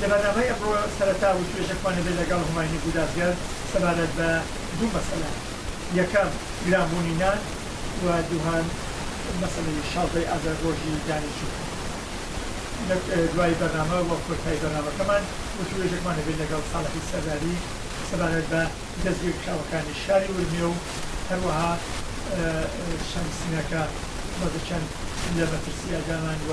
لە بەرنامەی ئەمڕۆ سەرەتا وتوێژەکمان هەبێت لەگەڵ هوماینی گودازگەر سەبارەت بە دوو مەسەلە یەکەم گرانبوونی نان و دووهەم مەسەلەی شازدەی ئازار ڕۆژی دانیشتوو لە دوای بەرنامە و کۆتایی بەرنامەکەمان وتوێژەکمان هەبێت لەگەڵ ساڵحی سەرداری سەبارەت بە دەستگیرکراوەکانی شاری ورمێ و هەروەها شەمسنەکە بەزەچەند لە مەترسیادامان و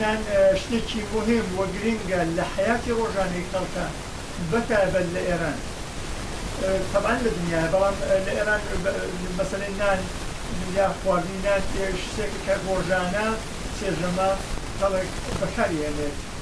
نان شتێکی موهیم و گرینگە لە حەیاتی ڕۆژانەی خەڵکا بە تایبەت لە ئێران تەبعەن لە دنیایا بەڵام لە ئێران مەسەلەی نان یا خواردنی نان شتێکە کە ڕۆژانە سێ ژەمە خەڵک بەکاری هێنێت.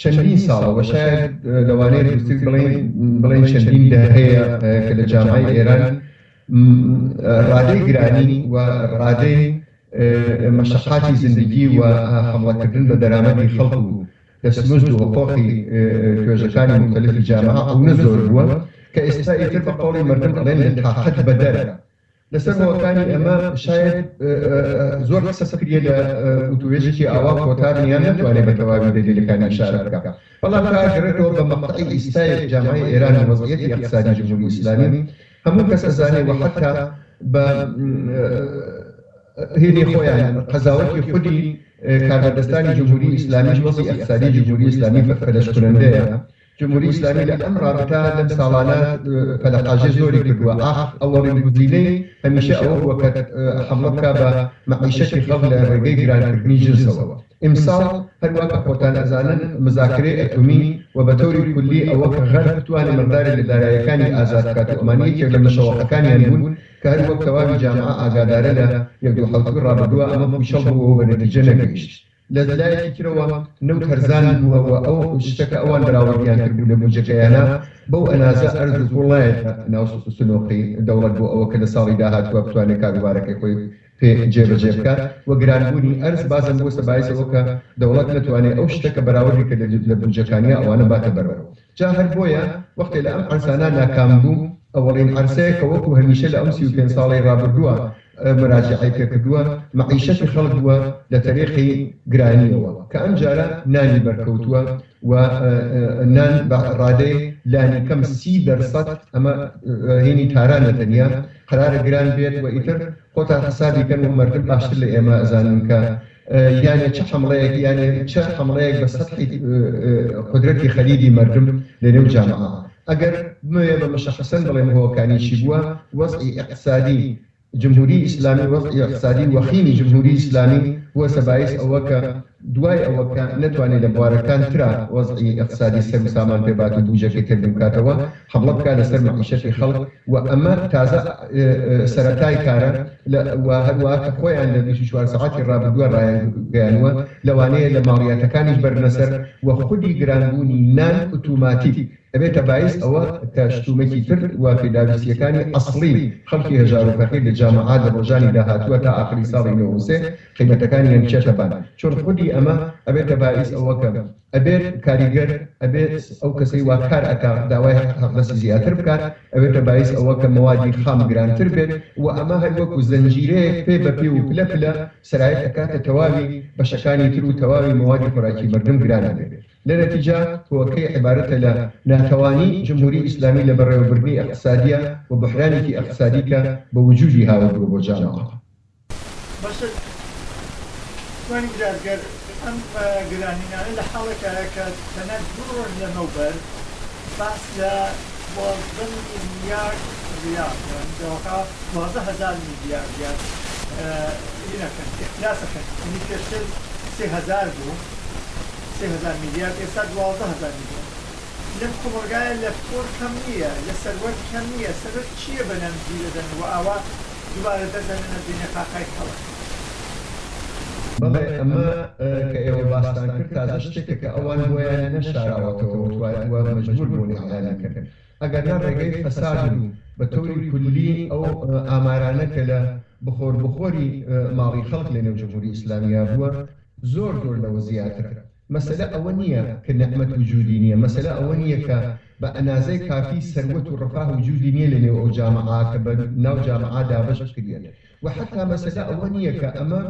چەندین ساڵە و شایەد لەوانەیە دروستتر بڵێین بڵێین چەندین دەهەیە کە لە جامعەی ئێران ڕادەی گرانی و ڕادەی مەشەقاتی زیندگی و حەمڵەکردن بە دەرامەتی خەڵک و دەستمزد و حقوقی توێژەکانی موختەلیفی جامعە ئەونە زۆر بووە کە ئێستا ئیتر بە قەوڵی مەردم ئەڵێن لە تاقەت بەدەرە لەسەر هۆکانی ئەمە شایەد زۆر قسە بکرێت لە وتوێژێکی ئاوا کۆتا دنیا نەتوانێت بە تەواوی دەلیلەکانی ئیشارە بکات بەڵام کارگەڕێتەوە بە مەقتەعی ئیستای جامعەی ئێران و وەزعیەتی ئیقتسادی جمهوری ئیسلامی هەموو کەس ئەزانێت و حەتا بە هێنی خۆیان قەزاوەتی خودی کاربەدەستانی جمهوری ئیسلامیش وەزعی ئیقتسادی جمهوری ئیسلامی فەلەشکونەندەیە جمهوری ئیسلامی لە ئەم ڕابتا لەم ساڵانە پەلەقاژێ زۆری کردووە، ئاخ ئەوەڕین گوزینەی هەمیشە ئەوە بووە کە حەمڵە بکا بە مەعیشەتی خەڵک لە ڕێگەی گرانکردنی جنسەوە. ئیمساڵ هەروا کە خۆتان ئەزانن مزاکرەی ئەتومی و بە تەوری کولی ئەوە کە غەرب بتوانێ مقدارێک لە داراییەکانی ئازاد بکات و ئەمان یەکێک لە مشەوەقەکانیان بوون کە هەر وەک تەواوی جامعە ئاگادارە لە یەک دوو حەوتووی ڕابردووا ئەمە پووچەڵ بوو و بە نەتیجە نەگەیشت. لە لایەکی ترەوە نەوت هەرزان بووە و ئەو شتە کە ئەوان بەراوردیان کردبوو لە بودجەکەیانا، بەو ئەنازە ئەرز و گوڵ نایەتە ناو سنوقی دەوڵەت بۆ ئەوە کە لە ساڵی داهاتووە بتوانێت کاروبارەکەی خۆی پێ جێبەجێ بکات و گرانبوونی ئەرز بازەم بووەتە بایس ئەوە کە دەوڵەت نەتوانێت ئەو شتە کە بەراوردی کردە لە بودجەکانیا ئەوانە باتە بەرەوە. جا هەر بۆیە وەختێ لە ئەم عەرسانە ناکام بوو، ئەوەڵین عەرسەیە کە وەکوو هەمیشە لە ئەم سی و پێنج ساڵەی ڕابردووە مراجعەی پێ کردووە، مەعیشەتی خەڵک بووە لە تەریقی گرانییەوە کە ئەم جارە نانی بەر کەوتووە و نان بە ڕادەی لانی کەم سی دەر سەد ئەمە هینی تارانە تەنیا قەرارە گران بێت و ئیتر خۆتان حسابی کەن و مەردم باشتر لە ئێمە ئەزانن کە یانێ چ حەمڵەیەک یانێ چ حەمڵەیەک بە سەتحی قودرەتی خەریبی مەردم لە نێو جامعە ئەگەر بمەوێ بە مشەخسەن بڵێم هۆکانی چی بووە وەزعی ئیقتسادی جمهوری ئیسلامی وەزعی ئیقتسادی وەخیمی جمهوری ئیسلامی بووەسە بایس ئەوە کە دوای ئەوە کە نەتوانێ لە بوارەکان ترا وەزعی ئیقتسادی سەروسامان پێ بات و بوجەکەی تێک بکاتەوە حەبڵە بکات لەسەر مەعیشەتی خەڵک و ئەمە تازە سەرەتای کارە و هەروا کە خۆیان لە بیست و چوار سەعاتی ڕابردووە ڕایانگەیانوە لەوانەیە لە ماڵیاتەکانیش بەرنە سەر و خودی گرانبوونی نان ئوتوماتیک ئەبێتە بایس ئەوە کە شتومەکی تر و پێداویستییەکانی ئەسڵی خەڵکی هەژارو فەقیر لە جامعە لە ڕۆژانی داهاتووە تا ئاخری ساڵی نۆ و سێ قیمەتەکانیان بچێتە بان چون خودی ئەمە ئەبێتە بایس ئەوە کە ئەبێت کاریگەر ئەبێت ئەو کەسەی وا کار ئەکا داوای هەقدەسی زیاتر بکات ئەبێتە بایس ئەوە کە مەوادی خام گرانتر بێت و ئەمە هەر وەکو زەنجیرەیەک پێ بە پێ و پلە پلە سەرایت ئەکاتە تەواوی بەشەکانی تر و تەواوی مەوادی خۆراکی مەردم گران ئەبێت لە نەتیجە هۆکەی عبارەتە لە ناتەوانی جمهوری ئیسلامی لە بەڕێوەبردنی ئەقتسادیە و بوحرانێکی ئەقتسادی کە بە وجودی هاوردوە بۆ جامەعە. بەشت جوانی بژار گەر ئەم گرانینانە لە حاڵێکایە کە تەنە دوو ڕۆژ لەمەوبەر باس لە دوازدە میلیارد ڕیال یان دەواقع دوازدە هەزار میلیارد ریال ی نەکەن ئیفلاس ئەکەن یەنی پێشتر سێ هەزار بوو سێ هەزار میلیارد ئێستا دوازدە هەزار میلیارد لەم کۆمەڵگایە لە پۆل کەم نییە لە سەروەت کەم نییە سەبەب چییە بە نان جی دەدەن وە ئاوا دوبارە دەست دەنێنە دونیا کاکای کەڵەک. بەڵێ ئەمە کە ئێوە باستان کرد تازە شتێکە کە ئەوان بۆیان نەشاراوەتەوە و مەجبور بوون ئیعلانی بکەن ئەگەرنا ڕێگەی فەساد و بە تەوری کولی ئەو ئامارانە کە لە بخۆر بخۆری ماڵی خەڵک لە نێو جمهوری ئیسلامیابووە زۆر زۆر لەوە زیاترە. مەسەلە ئەوە نییە کە نعمەت وجودی نییە، مەسەلە ئەوە نییە کە بە ئەنازەی کافی سەروەت و ڕەفاه وجودی نییە لە نێو ئەو جامعە کە بە ناو جامعە دابەش بکریەن و حەتا مەسەلە ئەوە نییە کە ئەمە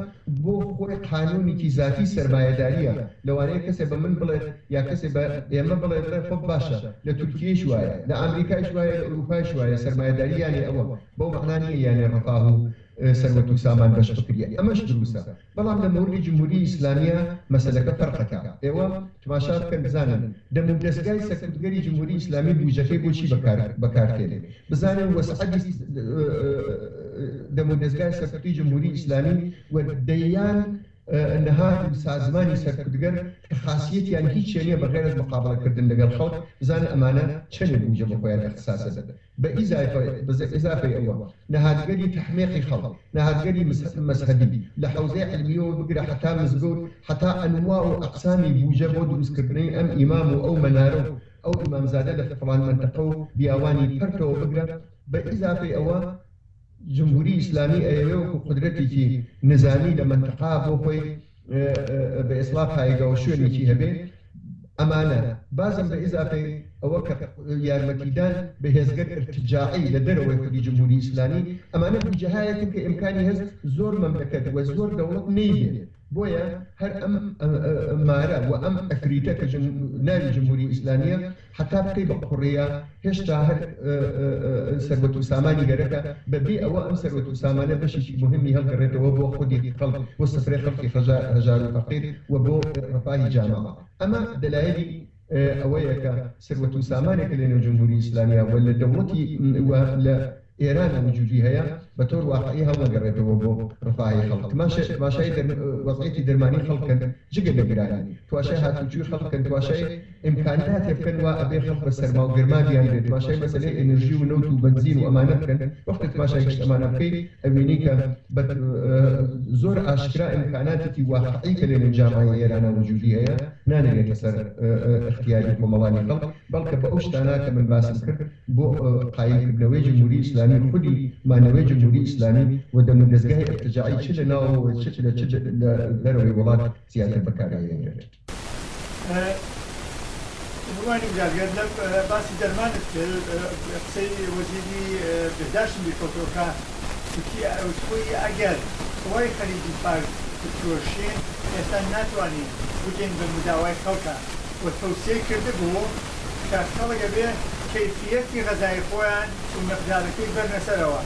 بۆ خۆی قانونیکی زاتی سەرمایەداریە لەوانەیە کەسێ بە من بڵێت یا کەسێ بە ئێمە بڵێت بڵێ خۆ باشە لە تورکیەیش وایە لە ئامریکایش وایە لە ئوروپایش وایە سەرمایەداری یانێ ئەوە بەو مەعنا نییە یانێ ڕەفاه و سەروەت و سامان بەش بکریە ئەمەش دروسە بەڵام لە مۆردی جمهوری ئیسلامیە مەسەلەکە فەرقەکە ئێوە تماشا بکەن بزانن دەم و دەزگای سەرکوتگەری جمهوری ئیسلامی بوجەکەی بۆ چی بەکار تێنێ بزانن وەسعەتی دەم و دەزگای سەرکوتی جمهوری ئیسلامی و دەیان نهاد و سازمانی سەرکوتگەر کە خاسیەتیان هیچێ نیە بەغێرەز مقابەڵە کردن لەگەل خەڵک بزانن ئەمانە چەنێ بوجە بۆ خۆیان ئەختساسدەن بە ئیزافەی ئەوە، نەهادگەری تەحمیقی خەڵک، نەهادگەری مەزهەبی، لە حەوزەی عیلمییەوە بگرە حەتا مزگەوت، حەتا ئەنوا و ئەقسامی بووجە بۆ درووستکردنەی ئەم ئیمام و ئەو مەنارە و ئەو ئیمامزادە لە فڵان مەنتەقە و بیاوانی پەرتەوە بگرە، بە ئیزافەی ئەوە، جمهوری ئیسلامی ئەیەوێ وەکو قودرەتیکی نزامی لە مەنتقا بۆ خۆی بە ئێسڵاح پایگاو شوێنیکی هەبێ ئەمانە بازم بە ئیزافەی ئەوە کە یارمەتیدان بە هێزگە ئرتجاعی لە دەرەوەی خودی جمهوری ئیسلامی ئەمانە بوجەهایەکن کە ئمکانی هەس زۆر مەملەکەت وە زۆر دەوڵەت نەیبێ بۆیە هەر ئەم مارە و ئەم عفریتە کە ناوی جمهوری ئیسلامیە حەتا بکەی بە قوڕیا هێشتا هەر سەروەت و سامانی گەرەکە بە بێ ئەوە ئەم سەروەت و سامانە بەشێکی موهیمی هەڵگەڕێتەوە بۆ خودی خەڵک بۆ سفرەی خەڵکی هەژار و فەقیر و بۆ ڕەفاهی جاماوە ئەمە دەلایەلی ئەوەیە کە سەروەت و سامانێک کە لە نێو جمهوری ئیسلامیا و لە دەوڵەتی و لە ئێرانا وجودی هەیە بە تۆر واقعی هەڵنەگەڕێتەوە بۆ ڕفاهی خەڵک تماشا تماشای دەر وەزعیەتی دەرمانی خەڵک کەن جگە لە گرانی تواشای هاتوچوی خەڵک کەن تواشای ئیمکاناتی بکەن وا ئەبێ خەڵک بە سەرما و گەرما بیان بێ تماشای مەسەلەی ئێنرژی و نەوت و بەنزین و ئەمانە بکەن وەختێ تماشای گشت ئەمانە بکەی ئەبینی کە بە زۆر ئاشکرا ئیمکاناتێکی واقعی کە لە نێو جامعەی ئێرانا وجودی هەیە نانێرێتە سەر ئیختیاری کۆمەڵانی خەڵک، بەڵکە بە ئەو شتانە کە من باسم کرد بۆ قایل کردنەوەی جمهوری ئیسلامی و خودی مانەوەی جمهوری ئیسلامی و دەم و دەزگای ئیرتجاعی چ لە ناوەوە و چ لە چ لە دەرەوەی وڵات زیاتر بەکار ئەهێنرێت. روانی زاگەر لەم باسی دەرمانت کرد قسەی وەزیری بهداشتم بیرکەوتەوە کە. تورکیە ئەوتبوی ئەگەر خۆی خەریکی فارس بفرۆشین ئێستا ناتوانین بگەین بە مداوای خەڵکا و تەوسیەی کردبو کە خەڵک ئەبێ کەیفیەتی غەزای خۆیان و مقدارەکەی بەرنە سەرەوە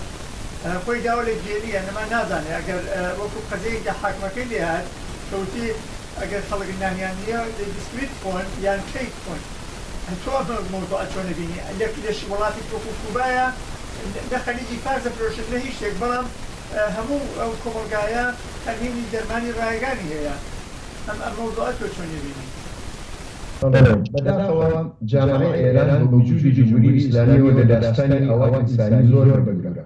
خۆی داوە لە گێلی یان ئەمان نازانێ ئەگەر وەکو قەزیەی کە حاکمەکەی لێ هات کە وتی ئەگەر خەڵک نانیان نیە دەی بسکویت بخۆن یان کەیک بخۆن تۆ ئەمە مەوزوعە چۆن ئەبینی لە لە وڵاتێکی وەکو کوبایە نە خەریکی فارس ئەفرۆشن نە هیچ شتێک بەڵام هەموو ئەو کۆمەڵگایە ئەرهینی دەرمانی ڕایگانی هەیە ئەم ئەم مەوزوعە تۆ چۆن ئەبینی؟ سلام. بەداخەوە جامعەی ئێران بە وجودی جمهوری ئیسلامیەوە لە داستانی ئاوا ئینسانی زۆر بەدوورە.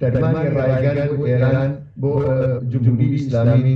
دەرمانی ڕایگان بۆ ئێران بۆ جمهوری ئیسلامی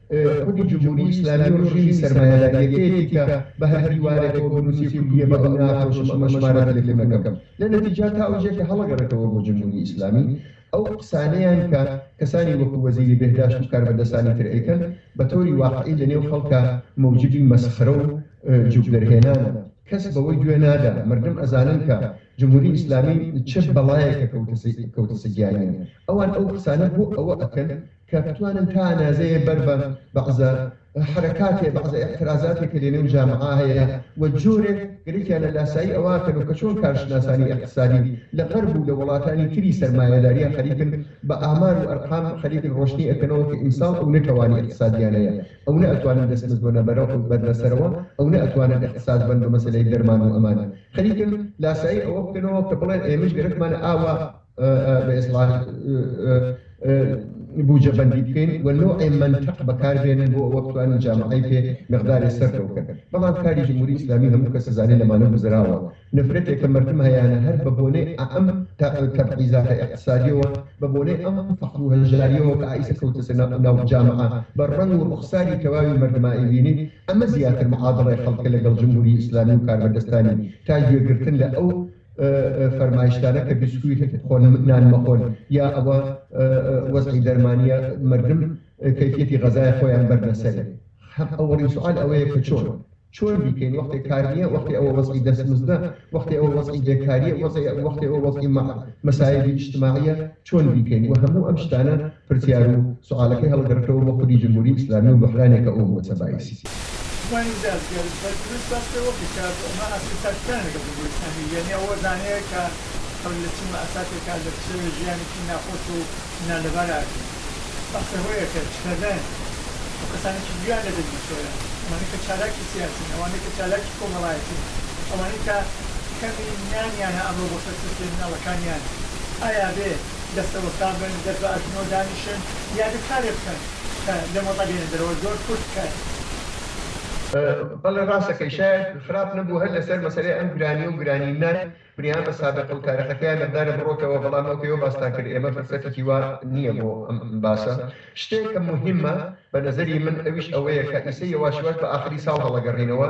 خودی جمهوری ئیسلامی و ڕژیمی سەرمایەداریەکەیەتی کە بە هەر دیوارێکەوە بنوسی کوردیە بە ئەو ناخۆشم ئەمە شمارە تەلەفونەکەم لە نەتیجا تا ئەوجە کە هەڵەگەڕێتەوە بۆ جمهوری ئیسلامی ئەو قسانەیان کە کەسانی وەکو وەزیری بێهداشت و کاربەدەستانی تر ئەیکەن بە تۆری واقعی لە نێو خەڵکا مەوجبی مەسخرە و جوک دەرهێنانە کەس بەوەی گوێ نادا مردم ئەزانن کە جمهوری ئیسلامی چ بەڵایەکە کەوتەسە گیانیان ئەوان ئەو قسانە بۆ ئەوە ئەکەن کە بتوانن تا ئەنازەیێ بەر بە بەعزە حەرەکاتێ، بەعزە ئێعترازاتێ کە لە نێو جامعا هەیە و جۆرێک گرکیانە لاسایی ئەوە ئەکەن و کە چۆن کارشناسانی ئێقتسادی لە غەرب و لە وەڵاتانی تری سەرمایەداریا خەریکن بە ئامار و ئەرقام خەریکن ڕۆشنی ئەکەنەوە کە ئیمساڵ ئەونە توانی ئێقتسادیان هەیە ئەونە ئەتوانن دەسمز بەنە بەرە و بەرنە سەرەوە ئەونە ئەتوانن ئێقتساز بەن بە مەسەلەی دەرمان و ئەمان خەریکن لاسایی ئەوە بکەنەوە کە بڵێن ئێمەش گەرەکمانە ئاوا بە ئێسڵاح بوجە بەندی بکەین و نوعێ منتەق بەکاربێنن بۆ ئەوە بتوانن جامعەی پێ مقدارێ سەرکە بکەن بەڵام کاری جمهوری ئیسلامی هەموو کەس زانێ لەمانە گوزراوە نفرەتێک کە مردم هەیانە هەر بە بۆنەی ئەم تەبعیزاتە ئیقتصادیەوە بە بۆنەی ئەم فەقر و هەژاریەوە کە ئایسە کەوتە سەر ناو جامعە بە ڕەنگ و ڕوخساری تەواوی مردما ئەیبینی ئەمە زیاتر معادڵەی خەڵکە لەگەڵ جمهوری ئیسلامی و کاربەدەستانی تا گوێگرتن لە ئەو فەرمایشتانە کە بیسکویت بخۆن نان مەخۆن یا ئەوە وەزعی دەرمانیە مردم کەفیەتی غەزای خۆیان بەرنەسەری هەم ئەوەڵی سوال ئەوەیە کە چۆن چۆن بیکەین وەختی کار نییە وەختی ئەوە وەزعی دەستمزدە وەختی ئەوە وەزعی بێکاریە وەزعی وەختی ئەوە وەزعی مەسایبی اجتماعیە چۆن بیکەین و هەموو ئەم شتانە پرسیار و سوعالەکەی هەڵگەڕکەوە بۆ خودی جمهوری ئیسلامی و بوحرانێکە ئو بوەتە بایسی. جوانی زیاد زیاد بە دروست باس کە وە کە شا بۆ ئەمە ئاستی تاکەکان لە گەڵ جمهوری ئیسلامی یەنی ئەوە زانێ کە هەوری لە چومە ئەساتێ کە لە پشەوێ ژیانێکی ناخۆش و نالەبار ئاگرین بەحسە هۆیە کە چکەدەن و کەسانێکی دویان لە دەنگی چۆیە ئەوانەی کە چالاکی سیاسین ئەوانەی کە چالاکی کۆمەڵایەتین ئەوانەی کە کەمی نیان یانە ئەمرۆ بۆ سەر تورکیە مناڵەکانیان ئایا بێ دەستەوەستان بن دەست بە ئەژنۆ دانیشن یا دەست کارێک بکەن کە لەم وەزعە بێنە دەرەوە زۆر کورت کاتی. بەڵێ ڕاست دەکەی شایەد خراپ نەبوو هەر لەسەر مەسەلەی ئەم گرانیە و گرانی نان بریان بە سابقە و تارخەکەیان نەبدارە بڕۆکەوە بەڵام ئەو پێوە باستان کرد ئێمە فرسەتیکی وا نیە بۆ ئەم باسە شتێک کە موهیمە بە نەزەری من ئەویش ئەوەیە کە ئیسە یەواش یەواش بە ئاخری ساڵ هەڵەگەڕینەوە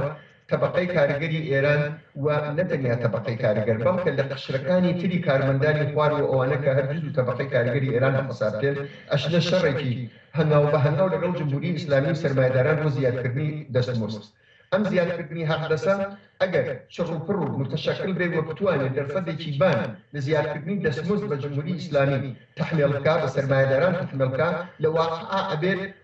تەبەقەی کاریگەری ئێران و نە تەنیا تەبەقەی کاریگەر بەڵکە لە قشرەکانی تری کارمەندانی خوار و ئەوانە کە هەر جزو تەبەقەی کاریگەری ئێران بە حساب دێن ئەچنە شەڕێکی هەنگاو بە هەنگاو لەگەڵ جمهوری ئیسلامی و سەرمایەداران بۆ زیادکردنی دەستمزد ئەم زیادکردنی حەقدەسە ئەگەر چڕوپڕ و متشەکل بێ و بتوانێ دەرفەدێکی بان لە زیادکردنی دەستمزد بە جمهوری ئیسلامی تەحمێڵ بکا بە سەرمایەداران تەحمێڵ کا لە واقعا ئەبێت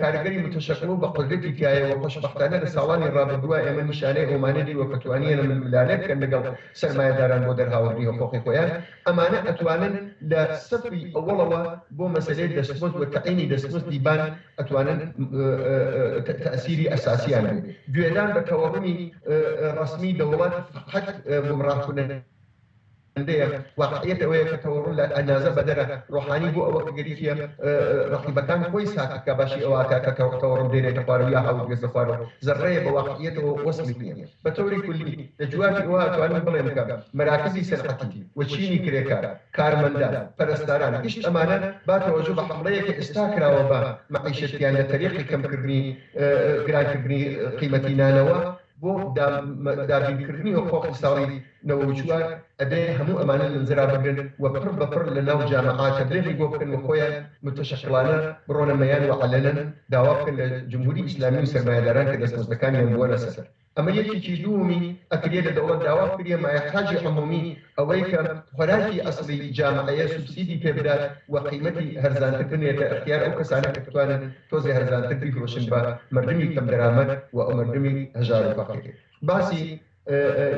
کاریگەری متشکڵ و بەقودرەتی تیایە و خۆشبەختانە لە ساڵانی ڕابردووە ئێمە نیشانەی ئەومانە دیوە کە توانیانە ململانێ بکەن لەگەڵ سەرمایەداران بۆ دەرهاوردنی حقوقی خۆیان ئەمانە ئەتوانن لە سەفی ئەوەڵەوە بۆ مەسەلەی دەستمزد و تەعینی دەستمزدی بان ئەتوانن تاسیری ئەساسیان بێت گوێدان بە تەوەڕمی ڕەسمی دەوڵەت قەت گومڕاکونە هەندەیە واقعیەت ئەوەیە کە تەوەڕ لە ئەنازە بەدەرە، ڕۆحانی بۆ ئەوە کە گەریکیە ڕەقیبەکان خۆی ساکت کا باشی ئەوە ئەکا کە تەوەڕم دێنێتە خوارو یا هاوت گوێزە خوارو زەڕڕەیە بە واقعیەتەوە وەسڵیت نیە. بە تەوری کولی لە جوابی ئەوە ئەتوانم بڵێم کە مەراکزی سەنعەتی و چینی کرێکار، کارمەندان، پەرستاران گشت ئەمانە با تەوەجو بە حەمڵەیە کە ئێستا کراوە بە مەعیشەتیان لە تەریقی کەم کردنی گران کردنی قیمەتی نانەوە بۆ دابین کردنی و قۆخی ساڵی نەوە وچوار ئەبێ هەموو ئەمانە لنزرا بگرن و پڕ بە پڕ لە ناو جامەعاتە درێغی بۆ بکەن و خۆیان متشەکڵانە بڕۆنە مەیان و عەلەنەن داوا بکەن لە جمهوری ئیسلامی و سەرمایەداران کە دەستمۆزدەکانیان بووەنە سەر ئەمە یەکێکی دوومی ئەکریە لە دەوڵەت داوا بکریە مایە حاجی عمومی ئەوەی کە خۆراکی ئەسڵی جامەعەیە سوبسیدی پێ بدات و قیمەتی هەرزانتر بنێتە ئەختیار ئەو کەسانە کە بتوانن تۆزێ هەرزانتر بیفرۆشن بە مەردمی کەم دەرامەت و ئەو مەردمی هەژار و فەقیر باسی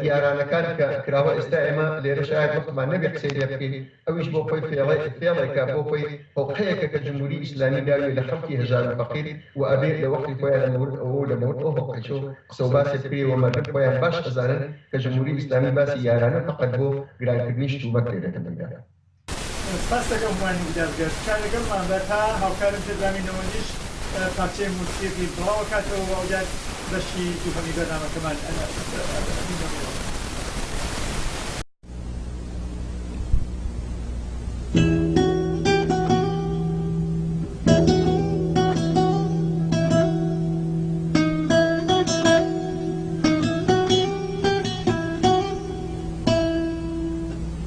یارانەکان کە کراوە ئێستا ئێمە لێرە شاید وەختمان نەبێ قسەی لێ بکەین ئەویش بۆ خۆی فێڵێ فێڵێکە بۆ خۆی هۆقەیەکە کە جمهوری ئیسلامی داوێ لە خەڵکی هەژار و فەقیر و ئەبێ لە وەختی خۆیان لە مەورد ئەوە و لە مەورد ئەو هۆقەیچە و قسە و باسێ بکرێ و مەردم خۆیان باش ئەزانن کە جمهوری ئیسلامی باسی یارانە فەقەت بۆ گرانکردنی شتومەک لێ دەکەن دەنگدان سپاست دەکەم هومانی گودار گەر تکا لەگەڵمان بە تا هاوکارم پێدرامی نەوەندیش پارچەی موسیقی بڵاو ئەکاتەوە و ئەوجار بەشی دووهەمی بەرنامەکەمان ئەبینە ڕوو.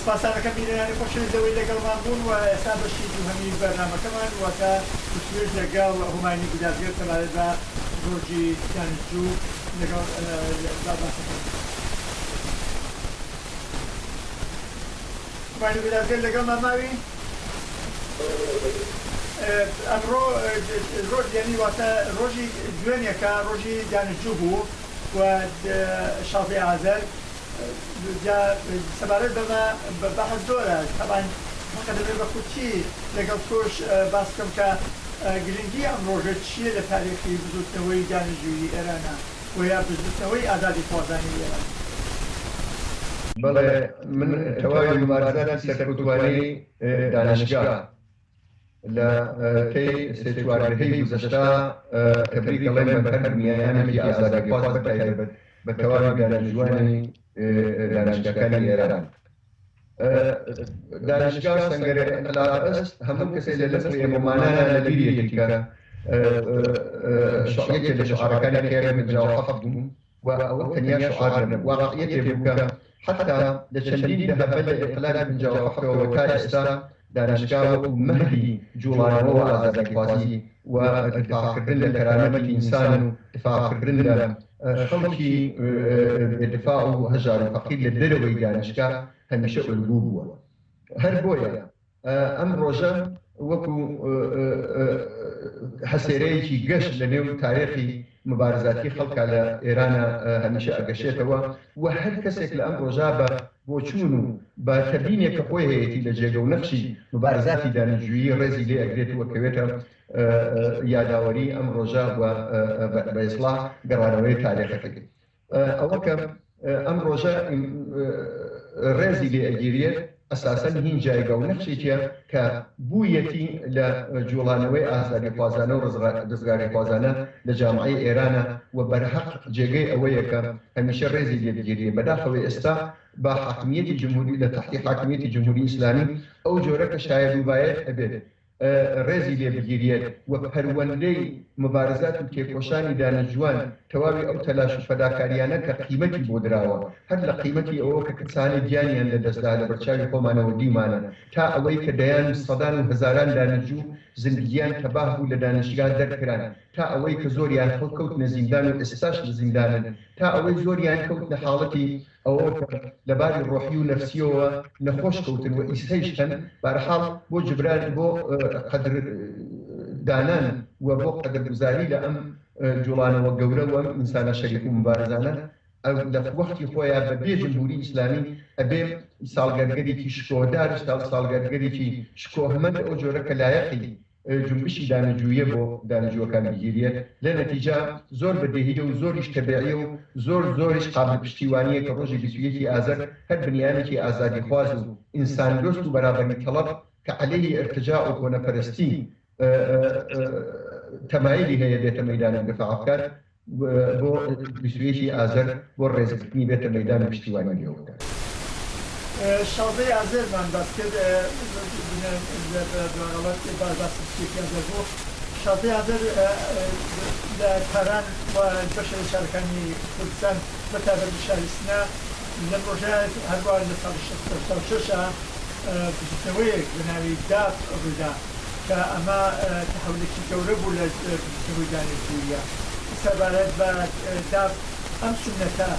سپاسانەکەم بینەرانی خۆشەویست لەوەی لەگەڵمان بوون و ئێستا بەشی دووهەمی بەرنامەکەمان واتە وتووێژ لەگەڵ هوماینی گودازگەر سەبارەت بە زۆرجی سیانزجوو لەگەڵ با باسەکەی هوماینی گودازگەر لەگەڵمان ماوی ئەمڕۆ ڕۆژ یعنی واتە ڕۆژی دوێنێکە ڕۆژی دانشجوو بوو و شازدەی ئازەر جا سەبارەت بەمە بەحس زۆرە تەبعەن فەقە دەبێ بە کورتی لەگەڵ تۆش باس بکەم کە گرنگی ئەم ڕۆژە چییە لە تاریخی بزووتنەوەی دانشجوویی ئێرانا و یا بزووتنەوەی ئازادیخوازانی ئێران؟ بەڵێ من تەواوی موبارزاتی سەرکوتووانەی دانشگا لە تەی سێ چوار دەهەی گوزەشتە کە بری گەڵێن بە هەر میانێکی ئازادیخواز بە تایبەت بە تەواوی دانیشتووانی دانیشگاکانی ئێران دانیشگا و سەنگەرە ئینقلاب ئەست هەموو کەسێ لە لەسڕ ئێمە مانانا لە بیر یەکیکە شعرەکانی خێرە من جاو حەفت بووم و ئەوە تەنیا شعار نەبوو، واقعیەتێ بوو کە حەتا لە چەندین دەهەبە لە ئینقلابی پەنجا و حەفتەوە تا ئێستا دانشگا وەکو مەهدی جوڵانەوە و ئازادیخوازی و دفاعکردن لە کەرامەتی ئینسان و دفاعکردن لە خەڵکی بێ دفاع و هەژار و فەقیر لە دەرەوەی دانشگا هەمیشە ئولگوو بووە. هەر بۆیە ئەم ڕۆژە وەکو هەسێرەیەکی گەش لە نێو تارێخی مبارزاتی خەڵکا لە ئێرانە هەمیشە ئەگەشێتەوە و هەر کەسێک لە ئەم ڕۆژە بە بۆچوون و بە تەبینێک کە خۆی هەیەتی لە جێگە و نەخشی مبارزاتی دانیشجویی ڕێزی لێ ئەگرێت و کەوێتە یاداوەری ئەم ڕۆژە و بە ئیسڵاح گەڕانەوەی تارێخەکەی ئەوە کە ئەم ڕۆژە ڕێزی لێ ئەگیرێت ئەساسەن هین جایگا و نەخشێکیە کە بوویەتی لە جوڵانەوەی ئازادیخوازانە و ڕزگاریخوازانە لە جامعەی ئێرانە و بەرهەق جێگەی ئەوەیە کە هەمیشە ڕێزی لێ بگیرێ بەداخەوە ئێستا بە حاکمیەتی جمهوری لە تەحتی حاکمیەتی جمهوری ئیسلامی ئەو جۆرە کە شایەد و بایەد ئەبێت ڕێزی لێ بگیریەت و پەروەندەی مبارزات و تێکۆشانی دانیشجوان تەواوی ئەو تەلاش و فەداکاریانە کە قیمەتی بۆ دراوە هەر لە قیمەتی ئەوە کە کەسانێک گیانیان لە دەست دا لە بەرچاوی خۆمانەوە دیومانە تا ئەوەی کە دەیان و سەدان و هەزاران دانیشجو زندگیان تەباه بوو لە دانیشگا دەرکران تا ئەوەی کە زۆریان هەڵکەوتنە زیندان و ئێستاش لە زیندانن تا ئەوەی زۆریان کەوتنە حاڵەتی ئەوە کە لە باری ڕۆحی و نەفسیەوە نەخۆش کەوتن و ئیستەیش هەن، بارحاڵ بۆ جبران بۆ قەدر دانان و بۆ قەدر گوزاری لە ئەم جوڵانەوە گەورە و ئەم ئینسانە شەریف و موبارزانە لە وەختی خۆیا بە بێ جمهوری ئیسلامی ئەبێ ساڵگەرگەریکی شکۆدار ساڵگەرگەریکی شکۆهمەند ئەو جۆرە کە لایەقی جونبشی دانەجویە بۆ دانەجوەکان بگیریەت لە نەتیجە زۆر بە دێهیە و زۆریش تەبێعیە و زۆر زۆریش قابل پشتیوانیە کە ڕۆژی بیست و یەکی ئازەر هەر بنیانێکی ئازادیخواز و ئینسان دۆست و بەرابەری تەڵەب کە عەلەیهی ئرتجاع و کۆنەپەرستی تەمایلی هەیە بێتە مەیدان و دفاع بکات بۆ بیست و یەک ی ئازەر بۆ ڕێزگرتنی بێتە مەیدان و پشتیوانی لێوە بکات. شازدە ی ئازەر مان باس کرد شازدە ی ئازەر لە تاران و بەشێک لە شارەکانی کوردستان بە تایبەت لە شاری سنە لەم ڕۆژە هەروا لە ساڵی شەست و هەشتا و شەش بزوتنەوەیەک بە ناوی داپ ڕوویدا. کە ئەمە تەحولێکی گەورە بوو لە پشتی هۆی دانیشتبووییە سەبارەت بە داب، ئەم سوننەتە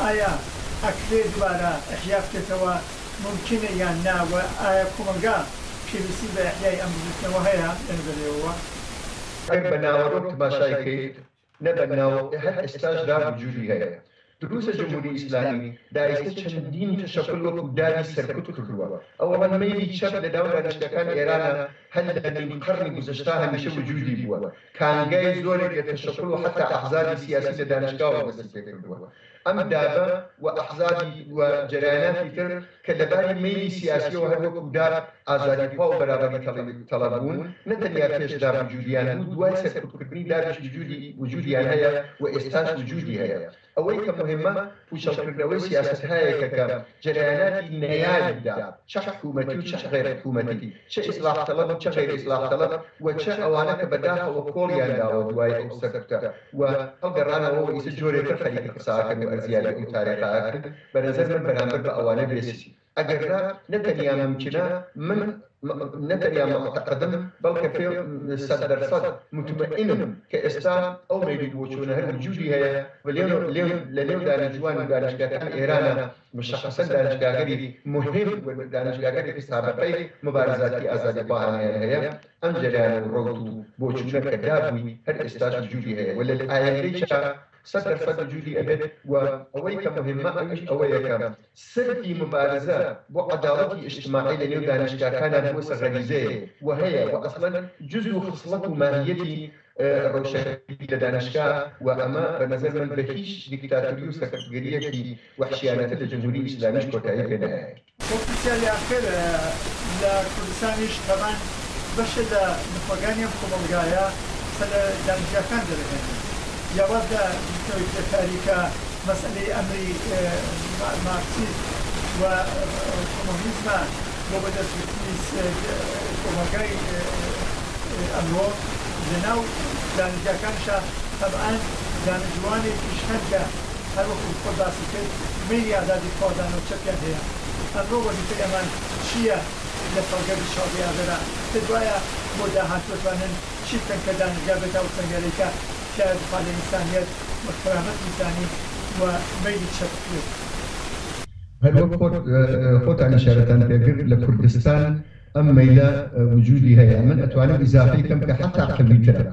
ئایا ئەکرێ دوبارە ئیحیا بکرێتەوە مومکینە یان نا و ئایا کۆمەڵگا پێویستی بە ئیحیای ئەم بزوتنەوە هەیە لە نظر ئێوەوە؟ ئەگەر بە ناوەرۆک تماشای بکەیت نە بەناو ە هەر ئێستاش دا وجودی هەیە دروستە جمهوری ئیسلامی دایستە چەندین تەشەکول وەکو داری سەرکوت کردووە ئەوەڵەن مەیلی چەپ لە ناو دانیشتنەکان ئێرانە هەر لە نیم قەڕنی گوزەشتا هەمیشە وجودی بووە کانگای زۆرێک لە تەشەکول و حەتا ئەحزابی سیاسی لە دانشگاوە دەستی پێ کردووە ئەم دابە و ئەحزابی و جەرەیاناتی تر کە لە باری مەیلی سیاسیەوە هەر وەکو دار ئازادی خوا و بەرابەری تەڵەب بوون، نە تەنیا پێش داب وجودیان بوو، دوای سەرکوتکردنی دابیش وجودی وجودیان هەیە و ئێستاش وجودی هەیە. ئەوەی کە موهیمە پوچەڵکردنەوەی سیاسەتهایەکە کە جەرەیاناتی نەیاری داب، چە حکومەتی و چە غەیر حکومەتی، چە ئیسلاح تەڵەب و چە غەیر ئیسلاح تەڵەب و چە ئەوانە کە بەداخەوە کۆڵیان داوە دوای ئەو سەرکوتە، و ئەو گەڕانەوە و ئیتر جۆرێ تر خەریکە قساکەن و ئەرزیابی ئەو تارێخە ئەکەن بە نەزەر من بەرامبەر بە ئەوانە بێ سین ئەگەر نا نە تەنیا ممکنە من نە تەنیا موعتەقدم بەڵکە پێ سەد دەر سەد متمەئینم کە ئێستا ئەو مەیل و بۆچوونە هەر وجودی هەیە و لێ لێ لە نێو دانیشجووان و دانیشگاکانی ئێرانە مشخصەن دانیشگاگەری موهیم و دانیشگاگەرێکی سابقەی موبارزاتی ئازادیخواهانەیان هەیە ئەم جەریان و ڕەوت و بۆچوونە کە دابووی هەر ئێستاش وجودی هەیە و لە ئایەندەیشا سەد دەر سەد وجودی ئەبێت و ئەوەی کە موهیمە ئەویش ئەوەیە کە سرتی موبارزە بۆ عەداڵەتی ئیجتماعی لە نێو دانیشتگاکانا بووەسە غەریزەیێ و هەیە و ئەسڵەن جوز و خسڵەت و ماهییەتی ڕەوشەکەری لە دانیشتگا و ئەمە بە نەزەر من بە هیچ دیکتاتوری و سەرکوتگەرییەکی وەحشیانەتر لە جمهوری ئیسلامیش کۆتایی پێ نایەت. بۆ پرسیاری ئاخر لە کوردستانیش تەبان بەشێ لە نوخبەگانی ئەم کۆمەڵگایە قسە لە دامجیاکان دەرەهێنن جیاواز لە بزوتنەوەی کرێکاری کە مەسئەلەی ئەمری مارکسیزم و کۆمۆنیزمە بۆ بەدەست گرتنی کۆمەڵگای ئەمرۆ لە ناو دامجیاکانشا تەبان دامجوانێکی شکەنجە هەر وەکو خۆت باسی کرد مەیلی ئازادی خوازانە و چەپیان هەیە ئەمرۆ وەزیفەی ئەمان چیە لە ساڵگەردی شازدەی ئازەرا کە دوایە بۆ داهاتوو ئەتوانن چی بکەن کە دانشگا بێتە ئەو سەنگەرەی کە تیایە دفاع لە ئینسانیەت و کەرامەتی ئینسانی و مەیلی چەپ بکرێت؟ هەر وەک خۆت خۆتان ئیشارەتان پێ کرد لە کوردستان ئەم مەیلە وجودی هەیە من ئەتوانم ئیزافەی کەم کە حەتا قویترە.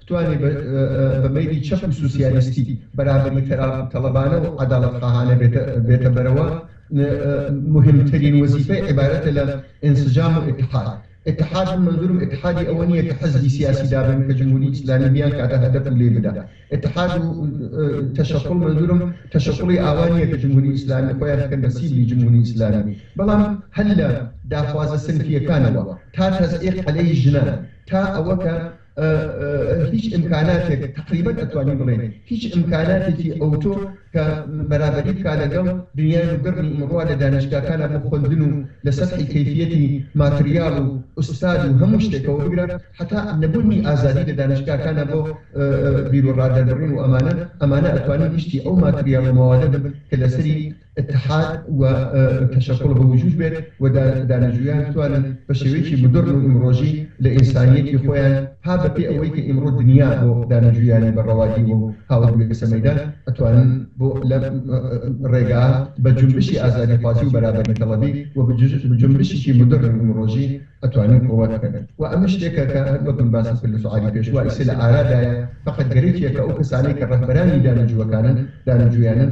بتوانێ بە مەیلی چەپ و سوسیالیستی، بەرابەری تەلەبانە و عەدالەتخاهانە بێتە بەرەوە، موهیمترین وەزیفەی عیبارەتە لە ئینسجام و ئیتحاد. ئیتحاد، من مەنزوورم ئیتحادی ئەوە نییە کە حزبی سیاسی دابنێن کە جمهوری ئیسلامی بیانکاتە هەدەف و لێی بدا. ئیتحاد و تەشەکوڵ، مەنزوورم تەشەکوڵی ئاوا نییە کە جمهوری ئیسلامی خۆیان بکەن بە سیبلی جمهوری ئیسلامی، بەڵام هەر لە داخوازە سنفییەکانەوە تا تەزعیق عەلەی ژنان تا ئەوە کە، هیچ ئیمکاناتێک تەقریبەن ئەتوانین بڵێین هیچ ئیمکاناتێکی ئەوتۆ کە بەرابەری بکا لەگەڵ دنیای مۆدێڕنی ئیمڕۆ لە دانیشتگاکانا بۆ خوەندن و لە سەتحی کەیفیەتی ماتریاڵ و ئوستاد و هەموو شتێکەوە بگرە هەتا نەبونی ئازادی لە دانیشتگاکانا بۆ بیروڕا دەربڕین و ئەمانە ئەمانە ئەتوانین گشتی ئەو ماتریاڵ و مەوادە بن کە لەسەری اتحاد و تشکل بە وجود بێت و دانشجویان بتوانن بە شێوەیەکی مدرن و ئیمڕۆژی لە ئینسانیەتی خۆیان ها بە پێ ئەوەی کە ئیمڕۆ دنیا بۆ دانشجویانی بە ڕەوا دیوە و هاوروێسە مەیدان ئەتوانن بۆ لەم ڕێگا بە جونبشی ئازادی خوازی و بەرابەری تەڵەبی و بە جونبشیکی مدرن و ئیمڕۆژی ئەتوانن قوڕە بکەن و ئەمە شتێکە کە هەر وەک من باسم کرد لە شوعاری پێشوە ئیسە لە ئارا دایە فەقەت گەرەکیە کە ئەو کەسانەی کە ڕەهبەرانی دانشجوەکانن دانشجویانن